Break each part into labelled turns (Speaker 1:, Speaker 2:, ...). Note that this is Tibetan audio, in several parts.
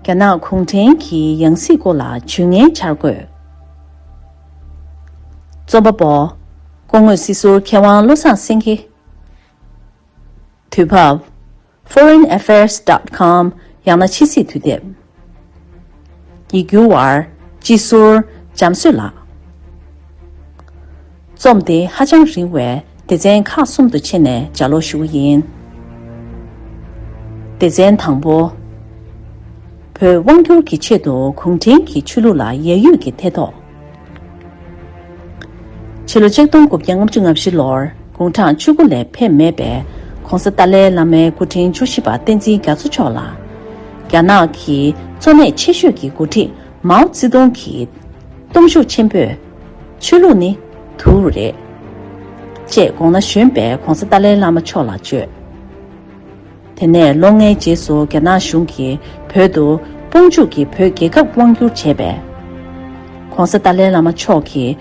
Speaker 1: རྒྱ་ནག་གུང་ཁྲན་གྱི་ཡང་སྲིད་སྐོར་ལ་ཇུས་ངན་འཆར་དགོས། རྩོམ་པ་པོ། སྐུ་ངོས་སྲིད་ཟུར་མཁས་དབང་བློ་བཟང་སེང་གེ། དུས་བབ། Foreign Affairs Dot Com། ཡང་ན་ཕྱི་སྲིད་དུས་དེབ། ཡིག་སྒྱུར་བར། སྤྱི་ཟུར། འཇམ་བཟོད་ལགས། རྩོམ་འདི་ཧ་ཅང་རིང་བས་སྡེ་ཚན་ཁག་གསུམ་དུ་ཕྱེ་ནས་སྦྱར་ཀློག་ཞུ་གི་ཡིན། སྡེ་ཚན་དང་པོ། བོད་དབང་སྒྱུར་གྱི་ཆེད་དུ་གུང་ཁྲན་གྱི་ཆོས་ལུགས་ལ་ཡད་ཡུད་ཀྱི་ཐེ་གཏོགས། ཕྱི་ལོ་ཆིག་སྟོང་དགུ་བརྒྱ་ལྔ་བཅུ་ལྔ་བཞི་ལོར་དགུང་གྲངས་བཅུ་དགུ་ལས་ཕེབས་མེད་པའི ྋགོང་ས་ཏཱ་ལའི་བླ་མའི་སྐུ་ཕྲེང་བཅུ་བཞི་པ་བསྟན་འཛིན་རྒྱ་མཚོ་མཆོག་ལ། རྒྱ་ནག་གི་གཙོ་གནད་ཆེ་ཤོས་ཀྱི་འགོ་ཁྲིད་མའོ་ཙེ་ཏུང་གིས་སྟོབས་ཤུགས་ཆེན་པོས། ཆོས་ལུགས་ནི་དུག་རེད། ཅེས་དགོངས་ན་གཞོན་པའི ྋགོང་ས་ཏཱ་ལའི་བླ་མ་མཆོག་ལ་བརྗོད། དེ་ནས་ལོ་ལྔའི་རྗེས་སུ་རྒྱ་ནག་གཞུང་གིས་བོད་དུ་དཔུང་འཇུག་གིས་བོད་རྒྱལ་ཁབ་དབང་བསྒྱུར་བྱས་པས། ྋགོང་ས་ཏཱ་ལའི་བླ་མ་མཆོག་གིས་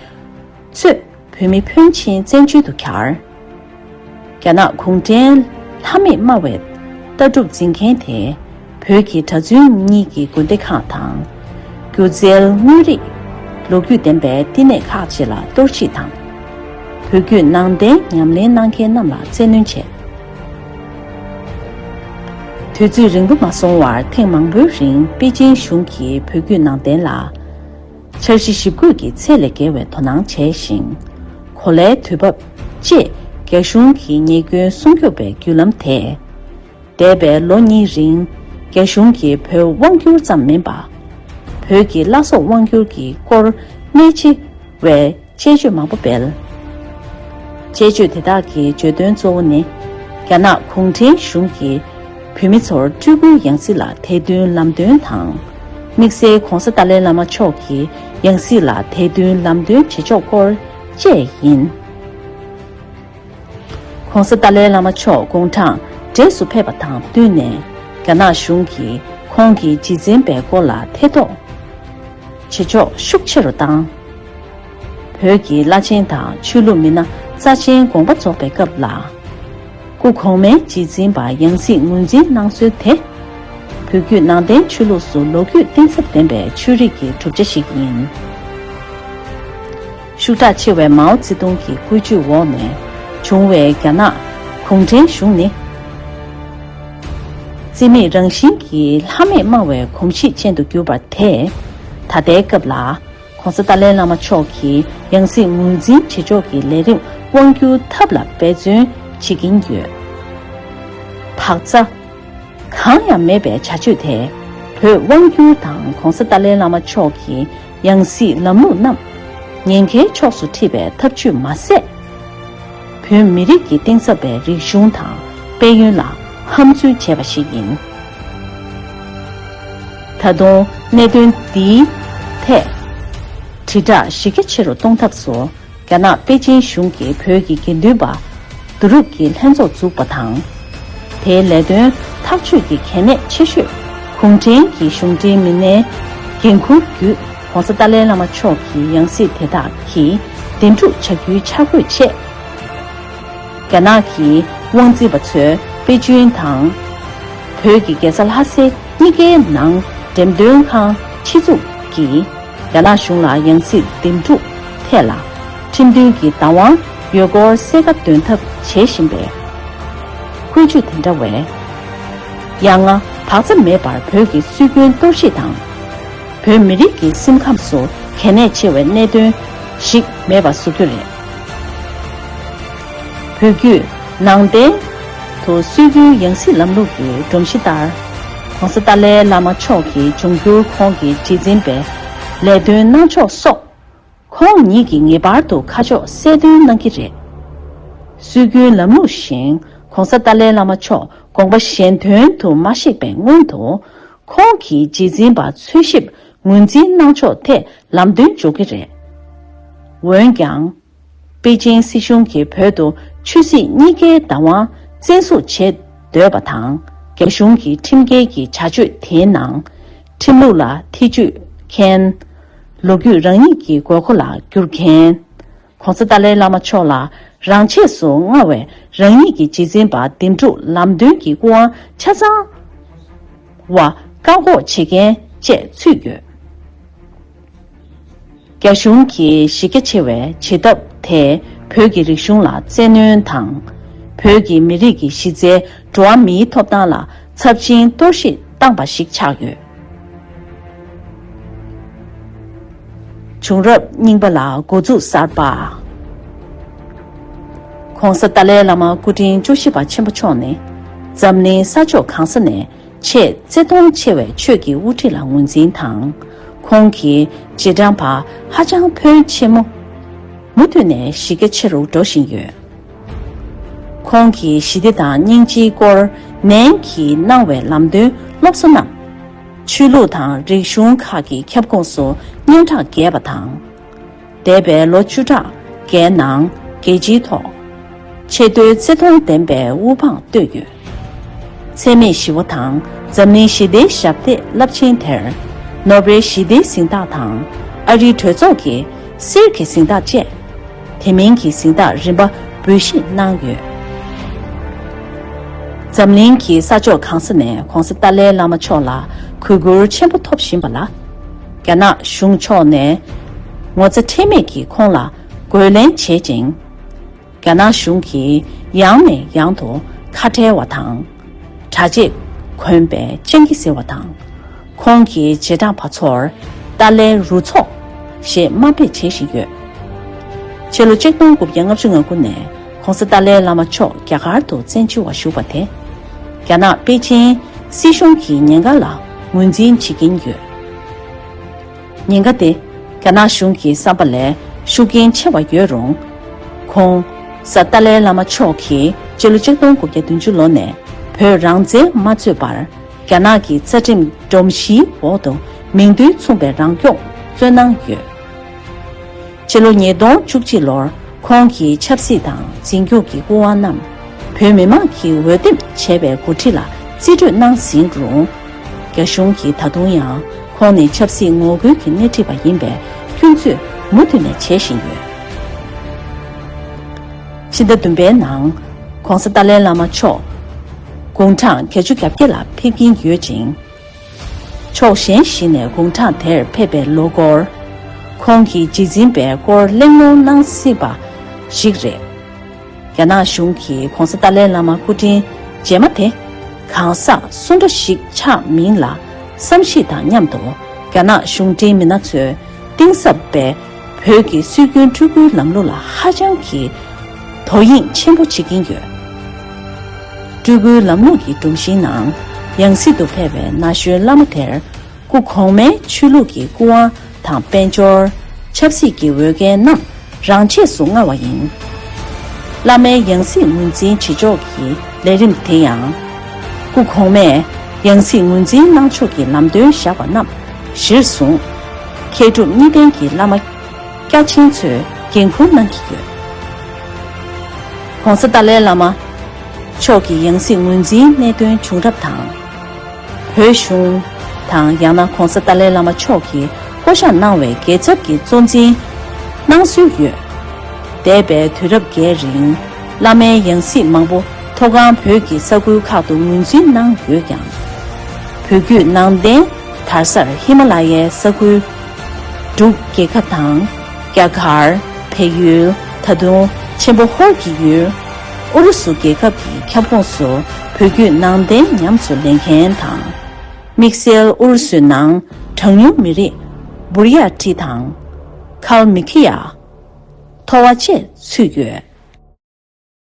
Speaker 1: གཙོས་བོད་མི་ཕོན་ཆེན་བཙན་བྱོལ་དུ་གྱར། རྒྱ་ནག་གུང་ཁྲན་ལྷ་མེད་སྨྲ་བའི་ལྟ་གྲུབ་འཛིན་མཁན་དེས་བོད་ཀྱི་གྲྭ་བཙུན་གཉིས་ཀྱི་དགོན་སྡེ་ཁག་དང། སྒྱུ་རྩལ་དངོས་རིགས། ལོ་རྒྱུས་ལྡན་པའི་བསྟི་གནས་ཁག་བཅས་ལ་གཏོར་བཤིག་དང། བོད་བརྒྱུད་ནང་བསྟན་ཉམས་ལེན་གནང་མཁན་རྣམས་ལ་བཙན་གནོན་བྱས། དུས་ཚོད་རིང་པོ་མ་སོང་བར་ཐེངས་མང་པོའི་རིང་པེ་ཅིན་གཞུང་གིས་བོད་བརྒྱུད་ནང་བསྟན་ལ། འཆར་གཞི་ཞིབ་འགོད་ཀྱི་ཚད་ལས་བརྒལ་བའི་དོ་སྣང་བྱས་ཤིང། གོ་ལའི་དུས་བབ། ཅེས་རྒྱ་གཞུང་གི་ཉེས་སྐྱོན་སྲུང་སྐྱོབ་པའི་བརྒྱུད་ལམ་དེས། འདས་པའི་ལོ་གཉིས་རིང་རྒྱ་གཞུང་གིས་བོད་དབང་བསྒྱུར་ཙམ་མིན་པ། བོད་ཀྱི་བླ་སྲོག་དབང་བསྒྱུར་གྱི་སྐོར་གནད་ཆེ་བའི། དཔྱད་བརྗོད་མང་པོ་སྤེལ། དཔྱད་བརྗོད་དེ་དག་གི་བརྗོད་དོན་གཙོ་བོ་ནི། རྒྱ་ནག་གུང་ཁྲན་གཞུང་གིས་བོད་མི་ཚོར་སྤྲུལ་སྐུའི་ཡང་སྲིད་ལ་དད་འདུན་ལམ་སྟོན་དང། དམིགས་བསལ ྋགོང་ས་ཏཱ་ལའི་བླ་མ་མཆོག་གི་ཡང་སྲིད་ལ་དད་འདུན་ལམ་སྟོན་བྱེད་ཕྱོགས་སྐོར་བཅས་ཡིན། ྋགོང་ས་ཏཱ་ལའི་བླ་མ་མཆོག་དགུང་གྲངས་བགྲེས་སུ་ཕེབས་པ་དང་བསྟུན་ནས་རྒྱ་ནག་གཞུང་གིས་ཁོང་གི་རྗེས་འཛིན་པའི་སྐོར་ལ་ཐེ་གཏོགས་བྱེད་ཕྱོགས་ཤུགས་ཆེ་རུ་བཏང། བོད་ཀྱི་བླ་ཆེན་དང་ཆོས་ལུགས་མི་སྣ་རྩ་ཆེན་དགོངས་པ་རྫོགས་པའི་སྐབས་ལ། སྐུ་གོང་མའི་རྗེས་འཛིན་པ་ཡང་སྲིད་ངོས་འཛིན་གནང་སྲོལ་དེ། བོད་བརྒྱུད་ནང་བསྟན་ཆོས་ལུགས་སུ་ལོ་རྒྱུས་གཏིང་ཟབ་ལྡན་པའི་ཆོས་རིག་གི་གྲུབ་ཆ་ཞིག་ཡིན། ཤུགས་དྲག་ཆེ་བའི་མའོ་ཙེ་ཏུང་གི་བཀོད་ཇུས་འོག་ནས་བྱུང་བའི་རྒྱ་ནག་གུང་ཁྲན་གཞུང་ནི། རྩིས་མེད་རང་བཞིན་གྱི་ལྷ་མེད་སྨྲ་བའི་གོམས་གཤིས་ཅན་དུ་གྱུར་པ་དེས། ད་ལྟའི་སྐབས་ལ ྋགོང་ས་ཏཱ་ལའི་བླ་མ་མཆོག་གི་ཡང་སྲིད་ངོས་འཛིན་བྱེད་ཕྱོགས་ཀྱི་ལས་རིམ་དབང་བསྒྱུར་ཐབས་ལ་འབད་བརྩོན་བྱེད་ཀྱིན་ཡོད། བག་ཚ། གང་ཡང་མེད་པའི་བྱ་སྤྱོད་དེས་བོད་དབང་བསྒྱུར་དང ྋགོང་ས་ཏཱ་ལའི་བླ་མ་མཆོག་གི་ཡང་སྲིད་ལམ་ལུགས་རྣམས། ཉེན་ཁའི་ཕྱོགས་སུ་འཁྲིད་པའི་ཐབས་ཇུས་མ་ཟད། བོད་མི་རིགས་ཀྱི་གཏིང་ཟབ་པའི་རིག་གཞུང་དང་དཔལ་ཡོན་ལ་ཧམ་རྫུན་བྱས་པ་ཞིག་ཡིན། ད་དུང་གནད་དོན་འདིའི་ཐད། དྲིལ་བསྒྲགས་གཞི་རྒྱ་ཆེ་རུ་གཏོང་ཐབས་སུ། རྒྱ་ནག་པེ་ཅིན་གཞུང་གིས་བོད་ཀྱི་དགེ་འདུན་པ་བསྡུ་རུབ་ཀྱི་ལྷན་ཚོགས་འཛུགས་པ་དང། དེའི་ལས་དོན་ཐག་གཅོད་ཀྱི་གལ་གནད་ཆེ་ཤོས་གུང་ཁྲན་གྱི་གཞུང་འབྲེལ་མི་སྣའི་འགན་འཁུར་བརྒྱུད ྋགོང་ས་ཏཱ་ལའི་བླ་མ་མཆོག་གི་ཡང་སྲིད་དེ་དག་གིས་བདེན་སྒྲུག་བྱ་རྒྱུའི་འཆར་འགོད་ཆེད། རྒྱ་ནག་གི་དབང་འཛིན་པ་ཚོས་པེ་ཅིན་དང། བོད་ཀྱི་རྒྱལ་ས་ལྷ་སའི་གཉིས་ཀའི་ནང་འགྲེམས་སྟོན་ཁང་ཕྱི་བཙུགས་ཀྱིས། རྒྱ་ནག་གཞུང་ལ་ཡང་སྲིད་འདེམས་སྒྲུག་ཐད་ལ་ཁྲིམས་མཐུན་གྱི་བདག་དབང་ཡོད་སྐོར་གསལ་ཁ་འདོན་ཐབས་བྱེད་བཞིན་པའི་འཁོན་རྒྱུགས་དེ་འདྲ་བས། ཡ་ང་བག་ཚ་མེད་པར་བོད་ཀྱི་སྲོལ་རྒྱུན་གཏོར་བཤིག་དང། བོད་མི་རིགས་ཀྱི་སེམས་ཁམས་སུ་གལ་གནད་ཆེ་བའི་གནད་དོན་ཞིག་མེད་པ་བཟོ་རྒྱུ་རེད། བོད་བརྒྱུད། ནང་བསྟན། དུ་སྲོལ་རྒྱུན་ཡང་སྲིད་ལམ་ལུགས་ཀྱི་སྒྲོམ་གཞི་ལྟར། ྋགོང་ས་ཏཱ་ལའི་བླ་མ་མཆོག་གི་འབྱུང་འགྱུར་ཁོང་གི་རྗེས་འཛིན་པའི་ལས་དོན་གནང་ཕྱོགས་སོགས། ཁོང་ཉིད་ཀྱིས་ངེས་པར་དུ་ཁ་ཕྱོགས་གསལ་སྟོན་གནང་གི་རེད། སྲོལ་རྒྱུན་ལམ་ལུགས་བཞིན ྋགོང་ས་ཏཱ་ལའི་བླ་མ་མཆོག་དགོངས་པ་གཞན་དོན་དུ་མ་གཤེགས་པའི་སྔོན་དུ། ཁོང་གི་རྗེས་འཛིན་པ་འཚོལ་ཞིབ་ངོས་འཛིན་གནང་ཕྱོགས་ཐད་ལམ་སྟོན་འཇོག་གི་རེད། འོན་ཀྱང། པེ་ཅིང་སྲིད་གཞུང་གིས་བོད་དུ་ཆོས་སྲིད་གཉིས་ཀའི་བདག་དབང་བཙན་བཟུང་བྱེད་འདོད་པ་དང། རྒྱ་གཞུང་གི་ཁྲིམས་འགལ་གྱི་བྱ་སྤྱོད་དེའི་ནང། ཁྲིམས་ལུགས་ལ་ཐེ་ཇུས་མཁན། ལོ་རྒྱུས་རང་ཉིད་ཀྱི་དགོས་མཁོ་ལ་བསྒྱུར་མཁན། ྋགོང་ས་ཏཱ་ལའི་བླ་མ་མཆོག་ལ་རང་ཆས་སུ་མངའ་བའི་རང་ཉིད་ཀྱི་རྗེས་འཛིན་པ་འདེམས་སྒྲུག་ལམ་སྟོན་གྱི་སྐུ་དབང་ཆ་ཚང་བ་བཀག་འགོག་བྱེད་མཁན་བཅས་ཚུད་ཡོད། རྒྱ་གཞུང་གིས་གཞི་རྒྱ་ཆེ་བའི་བྱེད་ཐབས་དེས་བོད་ཀྱི་རིག་གཞུང་ལ་བཙན་གནོན་དང། བོད་ཀྱི་མི་རིགས་ཀྱི་གཞི་རྩའི་འགྲོ་བ་མིའི་ཐོབ་ཐང་ལ་ཚབས་ཆེན་གཏོར་བཤིག་བཏང་པ་ཞིག་ཆགས་ཡོད། བྱུང་རབས་རྙིང་པ་ལ་འགོ་འཛུགས་གསར་པ། ྋགོང་ས་ཏཱ་ལའི་བླ་མ་སྐུ་ཕྲེང་བཅུ་བཞི་པ་ཆེན་པོ་མཆོག་ནི་འཛམ་གླིང་ས་ཕྱོགས་གང་ས་ནས་ཆེས་བརྩེ་མཐོང་ཆེ་བའི་ཆོས་ཀྱི་དབུ་ཁྲིད་ལ་ངོས་འཛིན་དང། ཁོང་གི་རྗེས་འབྲང་པ་ཧ་ཅང་ཕོན་ཆེ། མུ་མཐུད་ནས་གཞི་རྒྱ་ཆེ་རུ་འགྲོ་བཞིན་ཡོད། ཁོང་གི་ཞི་བདེ་དང་སྙིང་རྗེའི་སྐོར་ནན་གྱིས་གནང་བའི་ལམ་སྟོན་སློབ་གསོ་རྣམས། ཆོས་ལུགས་དང་རིག་གཞུང་ཁག་གི་ཁྱབ་ཁོངས་སུ་སྙན་གྲགས་རྒྱས་པ་དང། འདས་པའི་ལོ་བཅུ་ཕྲག་འགའི་ནང་རྒྱལ་སྤྱིའི་ཐོག་ཆེས་མཐོའི་བརྩི་མཐོང་ལྡན་པའི་དབུ་འཕང་བཏོད་ཡོད། འཚེ་མེད་ཞི་བ་དང་འཛམ་གླིང་ཞི་བདེའི་ཞབས་སྟེགས་རླབས་ཆེན་དེར། ནོ་བེལ་ཞི་བདེའི་གཟེངས་རྟགས་དང་ཨ་རིའི་གྲོས་ཚོགས་ཀྱི་གསེར་གྱི་གཟེངས་རྟགས་བཅས་དེ་མིན་གྱི་གཟེངས་རྟགས་རིམ་པ་འབུལ་བཞེས་གནང་ཡོད། འཛམ་གླིང་གི་ས་ཕྱོགས་གང་ས་ནས་གོང་ས་ཏཱ་ལའི་བླ་མ་མཆོག་ལ་གུས་བཀུར་ཆེན་པོ་ཐོབ་བཞིན་པ་ལ། རྒྱ་ནག་གཞུང་ཕྱོགས་ནས་ངོ་ཚ་ཁྲེལ་མེད་ཀྱིས་ཁོང་ལ་རྒོལ་ལན་བྱེད་ཅིང། རྒྱ་ནག་གཞུང་གིས་ཡང་ནས་ཡང་དུ་ཁ་བྲལ་བ་དང། དྲ་རྗེས་གོན་པའི་སྤྱང་ཀི་ཟེར་བ་དང། ཁོང་གི་རྗེས་འབྲངས་པ་ཚོར་ཏཱ་ལའི་རུ་ཚོགས་ཞེས་དམའ་འབེབས་བྱེད་བཞིན་ཡོད། ཕྱི་ལོ་གཅིག་སྟོང་དགུ་བརྒྱ་ལྔ་བཅུ་ང་དགུ་ནས ྋགོང་ས་ཏཱ་ལའི་བླ་མ་མཆོག་རྒྱ་གར་དུ་བཙན་བྱོལ་བ་བཞུགས་པ་དེ། རྒྱ་ནག་པེ་ཅིན་སྲིད་གཞུང་གིས་ཉེན་ཁ་ལ་ངོས་འཛིན་བྱེད་ཀྱིན་ཡོད། ཉེན་ཁ་དེ་རྒྱ་ནག་གཞུང་གི་བསམ་པ་ལས་ཤུགས་རྐྱེན་ཆེ་བ་ཡོད་རུང། ྋགོང་ས་ཏཱ་ལའི་བླ་མ་མཆོག་གིས་སྤྱི་ལོ་ཆིག་སྟོང་དགུ་བརྒྱ་བདུན་ཅུ་ལོ་ནས་བོད་རང་བཙན་མ་རྩོད་པར་རྒྱ་ནག་གི་རྩ་ཁྲིམས་སྒྲོམ་གཞིའི་འོག་ཏུ་མིང་དོན་མཚུངས་པའི་རང་སྐྱོང་རྩོད་གནང་ཡོད། སྤྱི་ལོ་ཉིས་སྟོང་བཅུ་གཅིག་ལོར་ཁོང་གིས་ཆབ་སྲིད་དང་འཛིན་སྐྱོང་གི་སྐུ་དབང་རྣམས་བོད་མི་མང་གིས་འོས་འདེམས་བྱས་པའི་འགོ་ཁྲིད་ལ་རྩིས་སྤྲོད་གནང་ཟིན་རུང། རྒྱ་གཞུང་གིས་ད་དུང་ཡང་ཁོང་ནི་ཆབ་སྲིད་ངོ་རྒོལ་གྱི་སྣེ་ཁྲིད་པ་ཡིན་པའི་སྐྱོན་བརྫོད་མུ་མཐུད་ནས་བྱེད་བཞིན་ཡོད། ཕྱི་ཟླ་བདུན་པའི་ནང ྋགོང་ས་ཏཱ་ལའི་བླ་མ་མཆོག་དགུང་གྲངས་བརྒྱད་ཅུ་གྱ་བརྒྱད་ལ་ཕེབས་ཀྱིན་ཡོད་ཅིང། ཕྱོགས་གཞན་ཞིག་ནས་དགུང་གྲངས་དེར་ཕེབས་པའི་ལོ་སྐོར། ཁོང་གིས་རྗེས་འཛིན་པའི་སྐོར་གླེང་སློང་གནང་སྲིད་པ་ཞིག་རེད། རྒྱ་ནག་གཞུང་གིས ྋགོང་ས་ཏཱ་ལའི་བླ་མ་སྐུ་དྲིན་རྗེས་མ་དེ་གང་ཟག་སུ་འདྲ་ཞིག་ཆགས་མིན་ལ་བསམ་གཞིགས་དང་མཉམ་དུ་རྒྱ་ནག་གཞུང་འབྲེལ་མི་སྣ་ཚོས་གཏིང་ཟབ་པའི་བོད་ཀྱི་སྲོལ་རྒྱུན་སྤྲུལ་སྐུའི་ལམ་ལུགས་ལ་ཧ་ཅང་གི་དོ་དབྱིངས་ཆེན་པོ་བྱེད་ཀྱིན་ཡོད། སྤྲུལ་སྐུའི་ལམ་ལུགས་ཀྱི་སྒྲོམ་གཞིའི་ནང་ཡང་སྲིད་དུ་ཕེབས་པའི་ན་གཞོན་བླ་མ་དེར་སྐུ་གོང་མའི་ཆོས་ལུགས་ཀྱི་སྐུ་དབང་དང་དཔལ་འབྱོར། ཆབ་སྲིད་ཀྱི་འོས་འགན་རྣམས་རང་ཆས་སུ་མངའ་བ་ཡིན། བླ་མའི་ཡང་སྲིད་ངོས་འཛིན་བྱེད་ཕྱོགས་ཀྱི་ལས་རིམ་དེ་ཡང། སྐུ་གོང་མས་ཡང་སྲིད་ངོས་འཛིན་གནང་ཕྱོགས་ཀྱི་ལམ་སྟོན་བཞག་པ་རྣམས། གཞིར་བཟུང། མཁས་གྲུབ་གཉིས་ལྡན་གྱི་བླ་མ། སྐྱ་ཆེན་ཚོས་འགན་ཁུར་གནང་གི་ཡོད། ྋགོང་ས་ཏཱ་ལའི་བླ་མ། མཆོག་གི་ཡང་སྲིད་ངོས་འཛིན་གནད་དོན་བྱུང་རབས་དང། བོད་གཞུང། དང་ཡང་ན ྋགོང་ས་ཏཱ་ལའི་བླ་མ་མཆོག་གིས་བསྐོ་གཞག་གནང་བའི་རྒྱལ་ཚབ་ཀྱི་གཙོ་འཛིན། གནང་སྲོལ་ཡོད། འདས་པའི་དུས་རབས་འགའི་རིང། བླ་མའི་ཡང་སྲིད་མང་པོ་མཐོ་སྒང་བོད་ཀྱི་ས་ཁུལ་ཁག་ཏུ་ངོས་འཛིན་གནང་ཡོད་ཀྱང། བོད་བརྒྱུད་ནང་བསྟན་དར་སར་ཧི་མ་ལ་ཡའི་ས་ཁུལ། འབྲུག་རྒྱལ་ཁབ་དང། རྒྱ་གར། བལ་ཡུལ། ད་དུང་ཆེན་པོ་ཧོར་གྱི་ཡུལ། ཨུ་རུ་སུ་རྒྱལ་ཁབ་ཀྱི་ཁྱབ་ཁོངས་སུ་བོད་བརྒྱུད་ནང་བསྟན་ཉམས་སུ་ལེན་མཁན་དང། དམིགས་བསལ་ཨུ་རུ་སུའི་ནང་གྲངས་ཉུང་མི་རིགས། Burya། བྲིས་དང། ཁཱལ་མི་ཁི་ཡཱ། ཐོ་བ་བཅས་ཚུད་ཡོད།